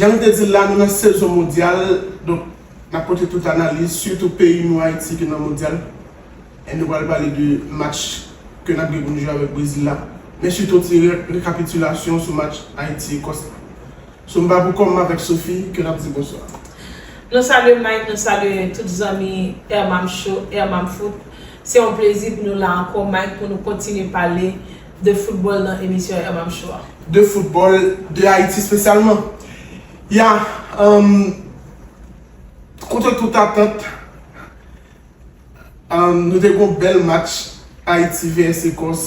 Jan nou te di l la, nou nan sezon mondyal, donk n ap pote tout analiz, sitou peyi nou Ayiti ki nan mondyal, e nou pral pale de match ke n ap gen pou nou jwe avèk Brezil la, men sitou ti rekapitilasyon sou match Ayiti-Ekòs la. So m pa pou kòm m avèk Sophie ke nap di bonswa. Nou salye Mike nou salye tout zanmi Ermam show Ermam foot se yon plezi pou nou la ankò Mike pou nou kontinye pale de football nan emisyon Ermam show a. De football, de Ayiti spesyalman. Ya humm kontre tout atant humm nou te gon bèl match Ayiti vs Ecòs.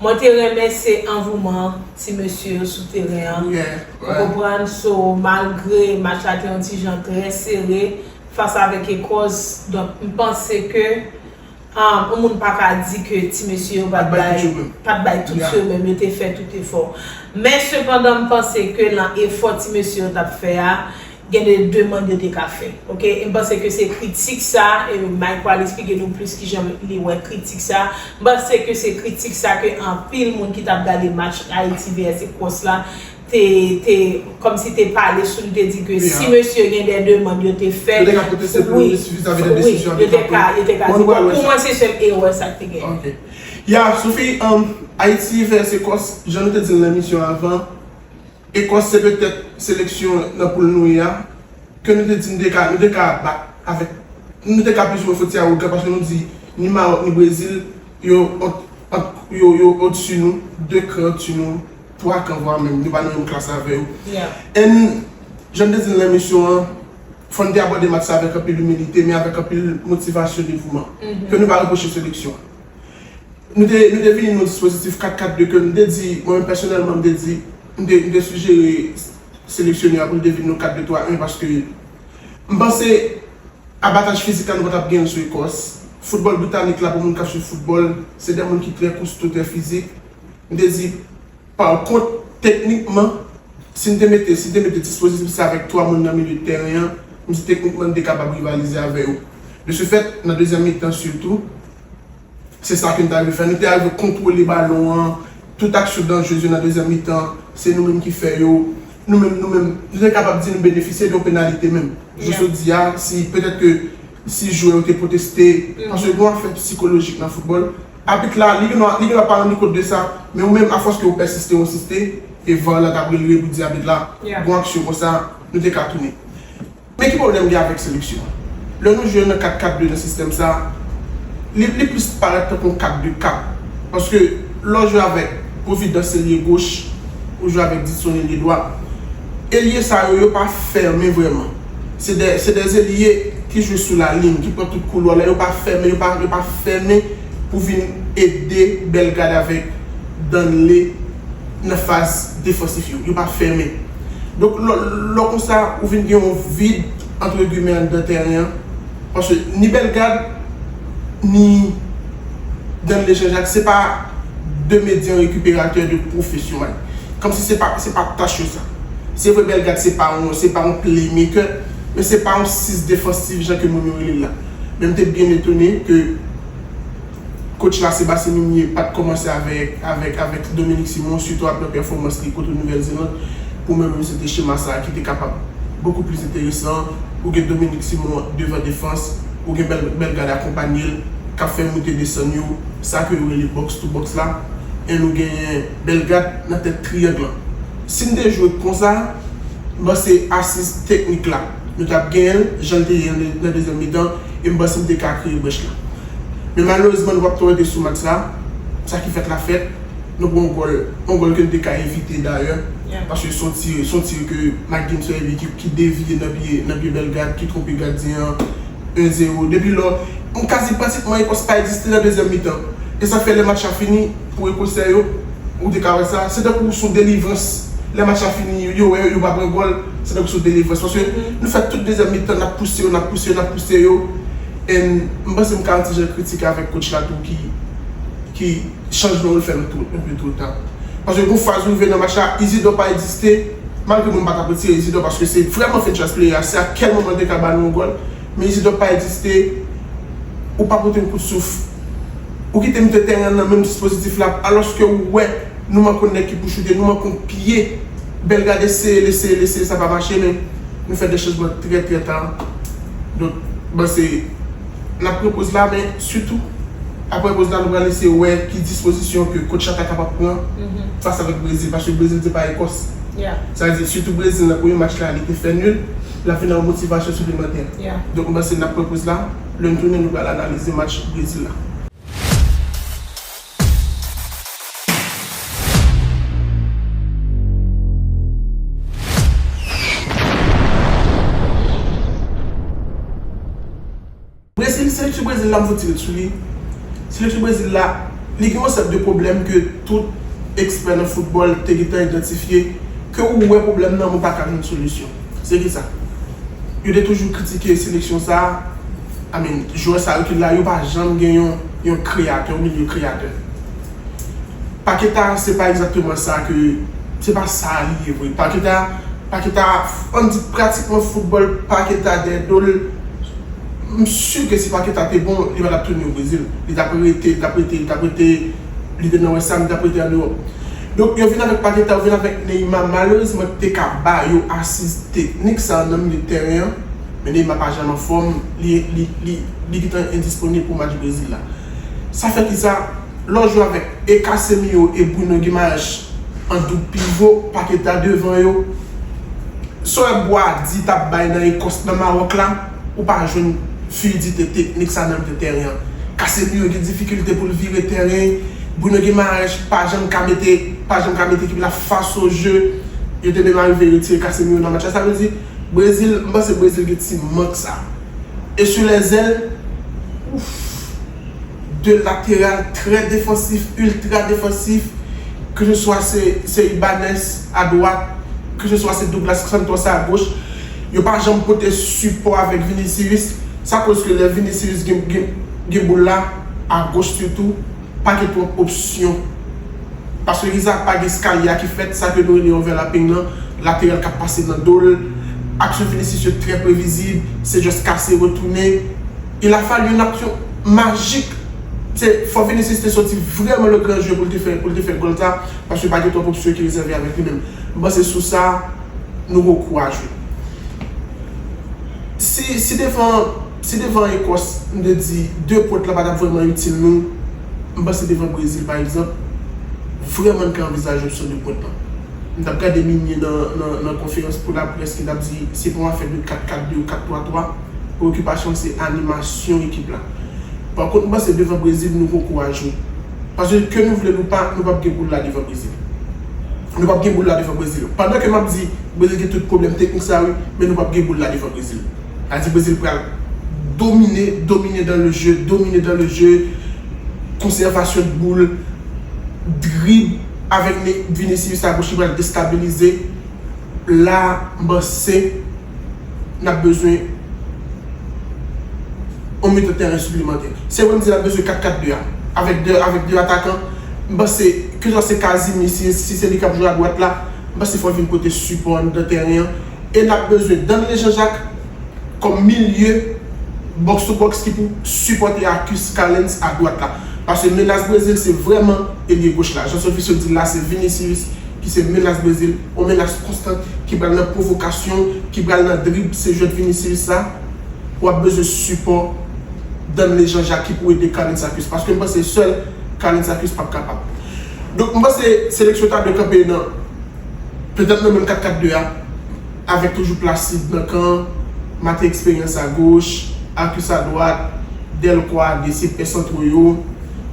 Mwen te renmen se anvouman ti mesye yo sou teren an ou konprann so malgre match la te yon ti jan trè sere fas avèk Ekòs donk m panse ke yon moun pa ka di ke ti mesye yo pat bay pat bay tout yo menm yo te fè tout efò men sepandan m panse ke lan efò ti mesye yo tap fè a Gen de demand yo te ka fè. Ok em panse ke se kritik sa e Mike pral esplike nou plis kijan li wè kritik sa. M panse ke se kritik sa ke anpil moun ki tap gade match Ayiti vs Ecos la te te kòmsi te pale sou li te di ke si mesye gen de demand yo te fè wi wi yo te ka yo te ka di bon pou mwen se sèl erè sa k te gen. Ya Sophie, Ayiti vs Ecos jan nou te dil nan emisyon avan. Ekòs se petèt seleksyon nan poul nou ye a ke nou te di nou te ka nou te ka bat avèk nou te ka plis ou mwen foti awogan paske nou di ni Maròk ni Brezil yo ant ant yo yo odsi nou 2 kran odsi nou 3 kan vwa menm yo pa nan menm klas avè yo and jan m te di l nan emisyon an fò n te abòde match sa avèk anpil imilite men avèk anpil motivasyon devouman ke nou pa repwoche seleksyon Nou te, nou te vini nan yon dispozitif 4 4 2 ke m te di, mwen menm pèsonèlman m te di, m te, m te sijere seleksyonè a pou l te vin nan 4 2 3 1 paske m panse abataj fizik la nou pa t ap gen l sou Ekòs. Foutbòl britanik la pou moun k ap swiv foutbòl se de moun ki trè kousto, trè fizik. M te di Pakont, teknikman, si n te mete si n te mete dispozisyon sa avèk 3 moun nan milye tèren an, m di teknikman n te kapab rivalize avè yo. De se fèt, nan dezyèm mitan sitou, se sa ke n ta rive fè. Nou te arive kontwole balon an, tout aksyon danjrez yo nan dezyèm mitan an, se nou menm ki fè yo. Nou menm, nou menm, nou te kapab di nou benefisye de yon penalite menm. Jou jodi a, si petèt ke si jwè yo te pwoteste, paske gen yon afè psikolojik nan foutbòl, Abit la, li gendwa, li gendwa pa rann li kont de sa, men ou menm a fòs ke ou pèsiste ou ensiste, e var la ta brele pou di abit la, bon aksyon konsa, nou te ka tounen. Men ki pwoblèm gen avèk seleksyon an? Lè nou jwe nan 4 4 2 nan sistèm sa, li, li plis parèt tankou yon 4 2 4, paske lè w jwe avèk Providence elye goch, ou jwe avèk Didson elye dwat, elye sa yo, yo pa fèmen vrèman. Se de se de zelie ki jwe sou la lin ki pran tout koulwa la yo pa fèmen yo pa yo pa fèmen pou vin ede Bellegarde avèk Danley nan faz defansif yo yo pa fèmen donk lò lò konsa ou vin gen yon vid antre gimè anndan tèren an paske ni Bellegarde ni Danlé Jean-Jacques se pa de medyan rekiperatè de pwofesyonal. Kòmsi se pa se pa tach yo sa. Se vre Bellegarde se pa yon se pa yon playmaker men se pa yon 6 defansif jan ke moun yo rele l la. Men m te byen etone ke coach la Sébastien Migné pat kòmanse avèk avèk avèk Dominique Simon sitou aprè pèfòmans li kote Nouvelle Zélande. Pou mwen menm se te chema sa ki te kapab bokou plis enteresan, ou gen Dominique Simon devan defans, ou gen bèl gad akonpanye l kap fè moute desann yo, sa ke yo rele box to box la, and ou genyen bèl gad nan tèt triyang lan. Si n te jwe konsa, m panse asiz teknik la nou tap genyen l jan l te ye nan dezyèm mitan e m panse n te ka kreye brèch la. Men malerezman nou pap twò rete sou match sa, sa ki fèt la fèt. Nou pran yon gòl, yon gòl ke n te ka evite dayè paske son tir, son tir ke McGinn sèvi ki devye nan pye, nan pye Bellegarde ki twonpe gadyen an 1 zero. Depi lò, m ka di pratikman Ecosse pa egziste nan dezyèm mitan. E sa k fè lè match la fini pou Ekosè yo, ou te ka wè sa, se tankou son delivrans. Lè match la fini, yo wè yo pa pran gòl, se tankou son delivrans paske nou fè tout dezyèm mitan n ap pouse yo, n ap pouse yo, n ap pouse yo and m panse m ka anti jan kritike avèk coach la tou ki, ki. Chanjman yo fè nou tout enpe tout tan. Paske gon faz ou rive nan match la, Izidò pa egziste, malgre mwen pa tap retire Izidò paske se vrèman fen chans pleye a, se a kèl moman li te ka ba nou yon gòl, men Izidò pa egziste, ou pa pote yon kout souf, ou kite mitan tèren an nan menm dispozitif la, alòske ou wè nou manke yon nèg ki pou choute, nou manke yon pye, Bellegarde eseye l, eseye l, eseye l, sa pa mache, men nou fè 2 chanjman trè trè ta, donk mwen panse. N ap pran poz la men sitou aprè poz la nou pral eseye wè ki dispozisyon ke Coach la ta kapab pran fas avèk Brezil paske Brezil se pa Ekòs. Sa vle di sitou Brezil nan premye match la li te fè nul, l ap vin ak yon motivasyon siplemantè. Donk m panse n ap pran poz la, lè n tounen nou pral analize match Brezil la. Brezil, seleksyon Brezil la m soti ret sou li, seleksyon Brezil la li gen yon seri de pwoblèm ke tout ekspè nan foutbòl te gentan idantifye, ke ou wè pwoblèm nan men ou pa ka jwenn solisyon. Se kisa? Yo te toujou kritike seleksyon sa. I mean jwè sa yo ki la yo pa janm gen yon yon kreyatè ou byen yon kreyatè. Paqueta se pa egzakteman sa ke se pa sa li ye vre. Paqueta Paqueta ann di pratikman foutbòl Paqueta dèyè do l m su ke si Paqueta te bon li pa tap tounen o Brezil. Li tap rete li tap rete li tap rete li te nan West Ham li tap rete an Ewòp. Donk yo vin avèk Paqueta yo vin avèk Neymar malerezman ki te ka ba yo asiz teknik sa nan milye tèren an. Men Neymar pa janm anfòm, li gntan endisponib pou match Brezil la. Sa fè kisa, lè w jwe avèk e Casemiro e Bruno Guimaraes an doub pivo, Paqueta devan yo, sa w wè Boadi t ap bay nan Ekòs, nan Mawòk la, ou pa jwenn fluidite teknik sa nan mil tèren an. Casemiro gen difikilte pou l vire tèren, Bruno Guimaraes pa janm ka mete ekip la fas o je, yo te menm arive retire Casemiro nan match la. Sa vle di. Brezil m panse Brezil gen ti mank sa. E sou les ailes ouff 2 lateral trè defansif ultra defansif ke se swa se Ibanez a dwat ke se swa se Douglas Santos a goch yo pa janm pote sipò avèk Vinicius sa koz ke lè Vinicius gen boul la a goch sitou pa gen twòp opsyon. Paske Izaak pa gen skalye a ki fèt, sa ke nou rele overlapping lan, lateral kap pase nan do l. Aksyon Vinicius yo trè previzib, se just kase, retounen. Il a fallu yon aksyon majik, se fò Vinicius te soti vrèman le grand jeu pou l te fè pou l te fè gòl sa, paske pa gen twòp opsyon ki rezève avèk li menm. M panse sou sa, nou gen yon kou a jwe. Si, si devan Si devan Ekòs, m te di 2 pwent la pa t ap vrèman itil nou, m panse devan Brezil pa egzanp, vrèman n ka anvizaje opsyon 2 pwent lan. M t ap gade Migné nan konferans pou laprès ki t ap di se pa yon afè de 4-4-2 ou 4-3-3, preyokipasyon l se animasyon ekip la. Pa kont m panse devan Brezil nou poko a jwe. Paske ke nou vle l ou pa, nou p ap gen boul la devan Brezil. Nou p ap gen boul la devan Brezil. Pandan ke m ap di Brezil gen tout pwoblèm teknik sa wi, men nou p ap gen boul la devan Brezil. Sa di Brezil pral domine, domine dans le jeu, domine dans le jeu, conservation de boule, drib avèk Vinicius a goch li pral destabilize, la m panse n ap bezwen yon mitan tèren siplemantè. Se wè m di n ap bezwen 4, 4, 2 a, avèk 2, avèk 2 atakan, m panse keswa se Casimir si se li k ap jwe a dwat la, m panse fò l vin pote sipò anndan tèren an. e lap bezwen Danley Jean Jacques kòm milye box to box ki pou sipòte a Cus Callens a dwat la. Pase menas Brezil se vrèman elye goch la. Jan Sophie Sceau dil la se Vinicius ki se menas Brezil, on menas konstant ki pral nan pwovokasyon, ki pral nan drib se jwèt Vinicius sa wap bezwen sipò Danley Jean Jacques ki pou ede Callens a Cus paske m panse sèl Callens a Cus pap kapab. Donk m panse seleksyon ta dwe kanpe nan. Petèt nan menm 4-4-2 a, avèk toujou Placide nan kan, Mathé Expérience a goch, Arcus a dwat, Delcroix a de se pè santro yo,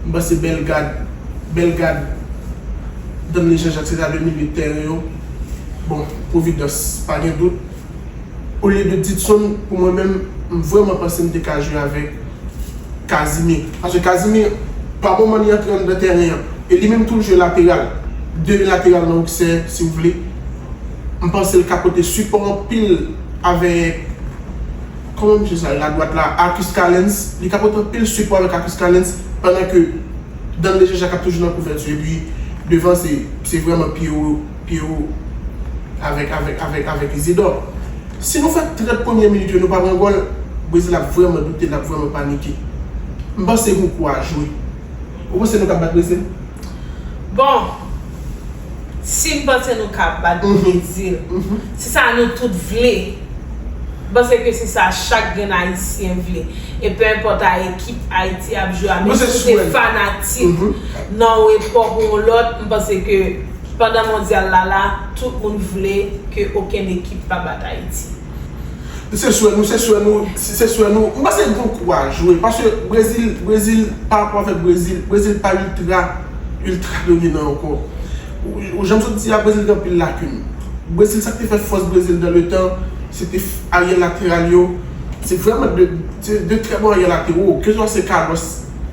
m panse Bellegarde, Bellegarde, Danley Jean-Jacques se ta 2 milye tèren yo. Bon, Providence, pa gen dout. olye de Didson pou mwen menm m vrèman panse m te ka jwe avèk Casimir paske Casimir pa moman li antre anndan tèren an e li menm tou l jwe lateral 2 lateral nan oksè si w vle m panse l ka pote sipò anpil avèk kòman mesye sa rele adwat la Arcus Calens li ka pote anpil sipò avèk Arcus Calens pandan ke Danley Jean Jacques ap toujou nan kouvèti epi devan se vrèman pye w Pierrot, Avèk, avèk, avèk, avèk Izidò. Si nou fè 30 premye minit yo nou pa pran gòl, Brezil ap vrèman doute, l ap vrèman panike. M panse Hugo a jwe. Ou panse nou ka bat Brezil? Bon, si m panse nou ka bat Brezil, se sa nou tout vle. M panse ke se sa chak grenn Ayisyen vle. E pe enpòt a ekip Ayiti ap jwe a, menm si w te fanatik nan yon epòk ou yon lòt, m panse ke Pandan mondyal la la, tout moun vle ke okenn ekip pa bat Ayiti. Nou se swè nou, se swè nou, se swè nou. M panse gon kou a jwe. Paske Brezil, Brezil, pa rapò avèk Brezil, Brezil pa iltra, iltra dominan ankò. Ou jan m sot di a, Brezil gen anpil lakin. Brezil, sa k te fè fòs Brezil dan le tan, se te aryè lateral yo. Se vrèman 2 trè bon aryè latewo. Keswa se Carlos.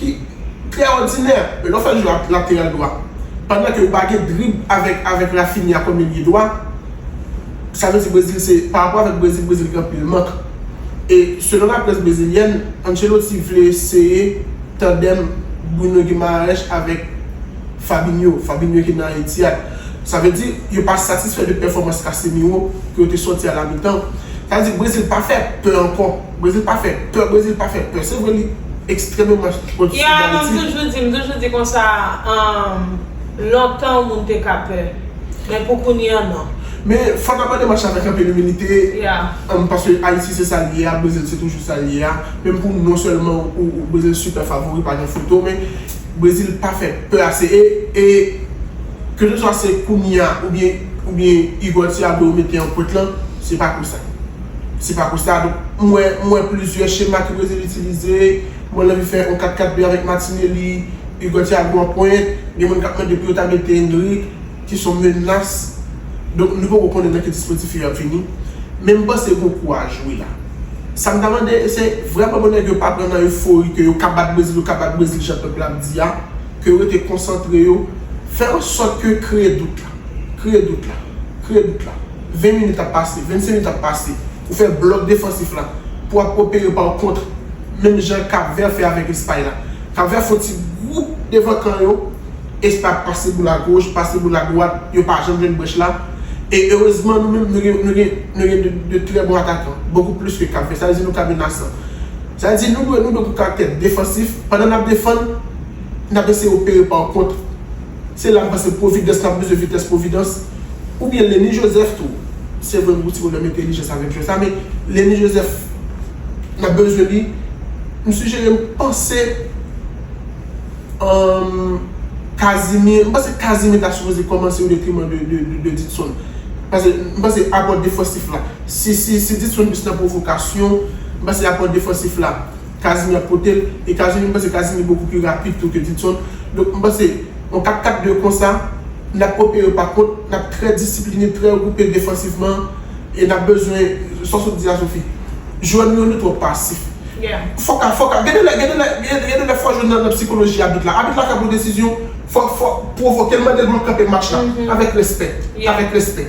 ki trè òdinè. Men lè w fè l jwe ak lateral dwa, pandan ke yo pa gen drib avèk avèk Raphinha kòm milye dwa, sa vle di Brezil se, parapò avèk Brezil, Brezil gen anpil mank. E selon laprès brezilyèn, Ancelotti vle eseye tandèm Bruno Guimaraes avèk Fabinho, Fabinho ki nan Etihad. Sa vle di yo pa satisfè de pèfòmans Casemiro ke yo te sòti a la mitan. Sa vle di Brezil pa fè pè ankò. Brezil pa fè pè, Brezil pa fè pè. Se vre li ekstrememan pwodiktif dayiti. Ya, non, m toujou di, m toujou di konsa, lontan moun te ka pè. Men pou kounye an, non. Men fò n abòde mach la avèk anpil imilite. Ya. Paske Ayiti se sa l ye a, Brezil se toujou sa l ye a. Menm pou non sèlman ou, Brezil sipè favori pa gen foto. Men Brezil pa fè pè ase. E, e, keseswa se kounye a oubyen, oubyen Igor Thiago yo mete an pwent lan, se pa pou sa. Se pa konsa, donk mwen mwen plizyè chema ke Brezil itilize, mwen anvi fè yon 4 4 2 avèk Martinelli, Hugo Thiago an pwent, gen moun kap mande pou yo ta mete Endrick, ki son menas, donk nou poko konnen nan ki dispozitif yo ap vini, men m panse gon kou a jwe la. Sa m ta mande se vrèman pou nèg yo pa pran nan efori ke yo ka bat Brezil, yo ka bat Brezil jan pèp la ap di a, ke yo rete konsantre yo, fè an sòt ke kreye dout la. Kreye dout la. Kreye dout la. 20 minit ap pase. 25 minit ap pase. Ou fè blòk defansif la. Pou ap opere pa w kontre. Menm jan Kap Vè fè avèk Espay la. Kap Vè fon ti gwoup devan kan yo. Espay ap pase boul a goch, pase boul a dwat. Yo pa janm jwenn brèch la. E erezman nou menm nou gen nou gen nou gen de trè bon atakan. Bokou plis ke Kap Vè. Sa vle di nou ka menasan. Sa vle di nou dwe nou dwe pou karaktè defansif. Pandan n ap defann, n ap eseye opere pa w kontre. Se la m panse providence tap bezwen vitès providence ou byen lenny joseph tou se vre gou ti bonèm entelijans avèk jwè sa men lenny joseph nap bezwen li m sijere m panse humm casimir m panse casimir ta sipoze kòmanse o detriman de didson pase m panse apò defansif la si didson plis nan pwovokasyon m panse apò defansif la Casimir ap potel etazini m panse Casimir beaucoup plus rapide tou ke Didson donk m panse yon 4 4 2 konsa nap opere pa kont nap trè disipline trè regroupe defansivman e nap bezwen sa sot di a Sophie jwè nou yo nou twò pasif fòk a fòk a gen de lè gen de lè gen de lè fò jwe nan psikoloji abit la abit la kap pran desizyon fò fò pwovokel mandel pou l kanpe match la avèk respè avèk respè.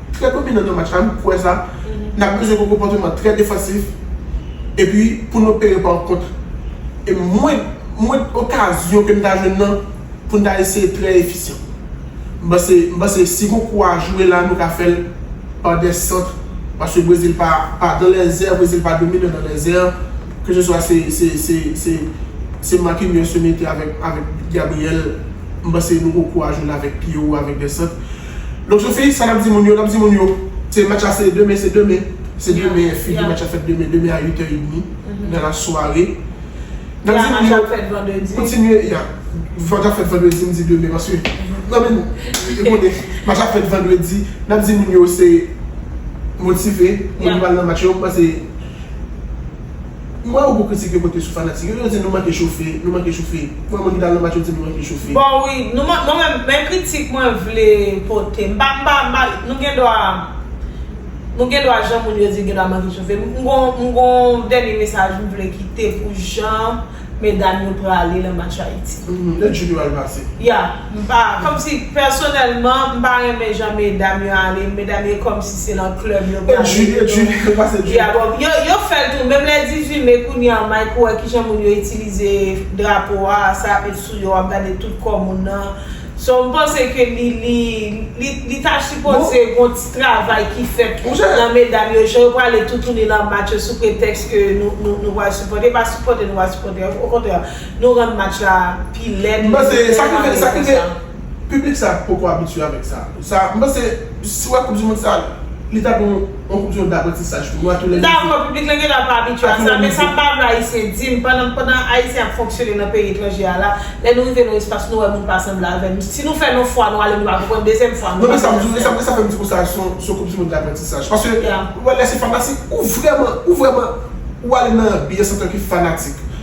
trè dominan nan match la, m kwè sa, n ap bezwen gen yon konpòteman trè defansif epi pou n opere pa kontre. E mwen, mwen okazyon ke n ta jwenn nan pou n ta eseye trè efisyan. M panse, m panse si gon kou a jwe la nou ka fè l pa dè sant paske Brezil pa, pa dan lèzè, Brezil pa dominan dan lèzè ke se swa se, se, se, se, se Marquinhos yo mete avèk, avèk Gabriel, m panse nou gon kou a jwe la avèk pye wo, avèk dè sant. Don Sophie sa nap di moun yo nap di moun yo se match la se demen se demen se demen figi match la fèt demen demen a 8 è edmi nan la sware nap di moun yo kontinye ya match la fèt vandredi m di demen paske nan men nou e konnen match la fèt vandredi nap di moun yo se motive moun yo pral nan match yo m panse. M wè yon gwo kritik yo pote sou fanatik yo, yo di nou manke chofe, nou manke chofe. M wè moun ki t al nan match yo di nou manke chofe. Bon wi, nou man, mwen menm, men kritik mwen vle pote, m pa, m pa, m pa, nou gen dwa, nou gen dwa jan moun yo di gen dwa manke chofe. M gon, m gon dènye mesaj m vle kite pou jan medam yo prale nan match Ayiti. Nèt jou yo al pase. Ya. M pa, kòmsi pèsonèlman, m pa renmen jan medam yo ale, medam yo kòmsi se nan club yo prale yo tou. E Julie, Julie, yo pase Julie. Ya bon, yo, yo fè l tou, menm lè 18 mai kounye an Mike ou wè kijan moun yo itilize drapo a, sa ap met sou yo, wap gade tout kò moun nan. So m panse ke li, li, li, li ta sipoze gon ti travay ki fèt nan medam yo, jan yo prale toutouni lan match yo sou pretèks ke nou, nou, nou pral sipòte, pa sipòte nou pa sipòte, okontrè. Nou rann match la pi lèd li te tèlman reposan. Piblik sa poko abitye avèk sa. Sa m panse si wè koup di mond sa li ta dwe yon koup di mond daprantisaj pou nou a tou lè nivo. M dakò piblik lan genlè pa abitye a sa men sa pa vle ayisyen di m pandan pandan ayisyen ap fonksyone nan peyi etranje a la lè nou rive nan espas nou wè moun pa sanble avè n si nou fè l yon fwa nou ale nou pa konprann dezyèm fwa nou pa konprann sa. Non men sa fè m di konsa a son son koup di mond daprantisaj paske ou wè lè se fanatik ou vrèman ou vrèman ou ale nan anbyans antanke fanatik.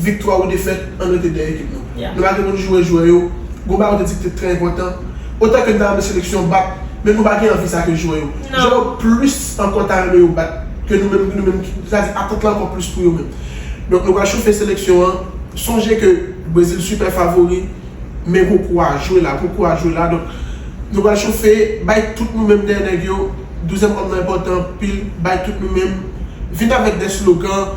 Viktwa ou defèt, ann rete dèyè ekip nou. Nou pa gen moun joure jwè yo. Gon bagay ou te di ki te trè enpòtan. Otan ke n ta renmen seleksyon bat, men nou pa gen anvi sa ke jwè yo. Jwè yo plis ankò ta renmen yo bat ke nou menm, nou menm ki, sa vle di atant lan ankò plis pou yo menm. Donk nou pral chofe seleksyon an. Sonje ke Brezil sipè favori, men gwo kou a jwe la. Gwo kou a jwe la. Donk nou pral chofe, bay tout nou menm dèyè nèg yo. Douzyèm òm nan enpòtan anpil. Bay tout nou menm. Vin avèk de slogan.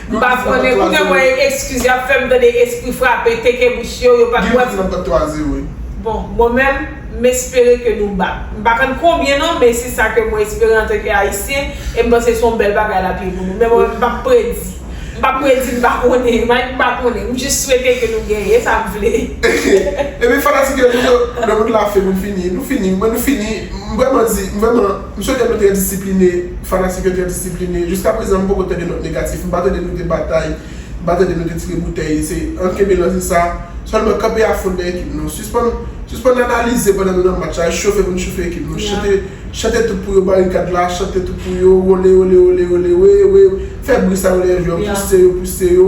M pa konnen kounye mwen e ekskiz yap fèm tande espri frape teke bouch yo yo pat wèm bon mwen menm m espere ke nou bat m pa konn konbyen non men se sa ke mwen espere antanke ayisyen e m panse se yon bèl bagay lap ye pou nou men mwen menm m pap predi m pap predi m pa konnen Mike m pa konnen m jis swete ke nou genyen e sa m vle ebyen fanatik yo nou yo nan moun la fè moun fini nou fini mwen nou fini m vreman di m vreman. M swete nou trè disipline, fanatik yo trè disipline. Jiska prezan m poko tande nòt negatif, m pa tande nou te batay, m pa tande nou te tire boutèy. Se ann kenbe lanse sa, sèlman kanpe afon dèyè ekip nou. Sispann sispann analize pandan nou nan match la, chofe pou nou chofe ekip nou. Chante chante tout pou yo barikad la, chante tout pou yo wole ole ole ole we we we. Fè bri sa yo lè jwè yo pouse yo pouse yo.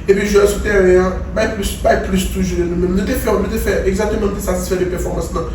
Epi jwè sou tèren an bay plis bay plis toujou de nou menm. Nou te fè nou te fè egzateman nou te satisfè de pèfòmans nan.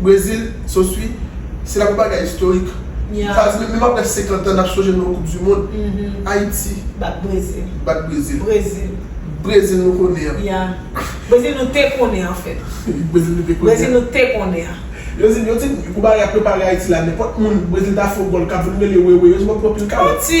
Brezil, so swi, se la pou bagay istorik. Sa vle di menm aprè 50 an n ap sonje nou nan koup di mond. Ayiti. Bat Brezil. Bat Brezil. Brezil. Brezil nou konnen an. Ya. Brezil nou te konnen an fèt. Brezil nou te konnen an. Brezil nou te konnen an. Yo di yo di pou bagay a prepare Ayiti la nenpòt moun Brezil ta fè yon gòl k ap vin mele wewe yo di w ap pran pil kalòt. Pati.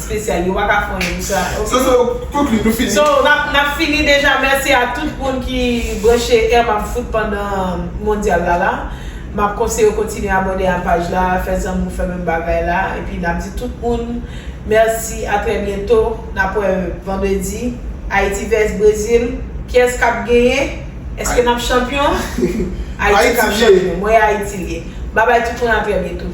Spesyal yo paka fon yo pou sa ok. Sou sa ou konkli nou fini. So nap fini deja merci a tout moun ki branche M ap fout pandan mondial la la map konseye w kontinye abòne a paj la fè zanmi w fè menm bagay la epi nap di tout moun merci a trè byento nap wè vandredi Haiti vs Brazil kiyès kap genyen. Eske nap chanpyon? Ayiti kap chanpyon. Mwen Ayiti liye. Babay tout moun a trè byento.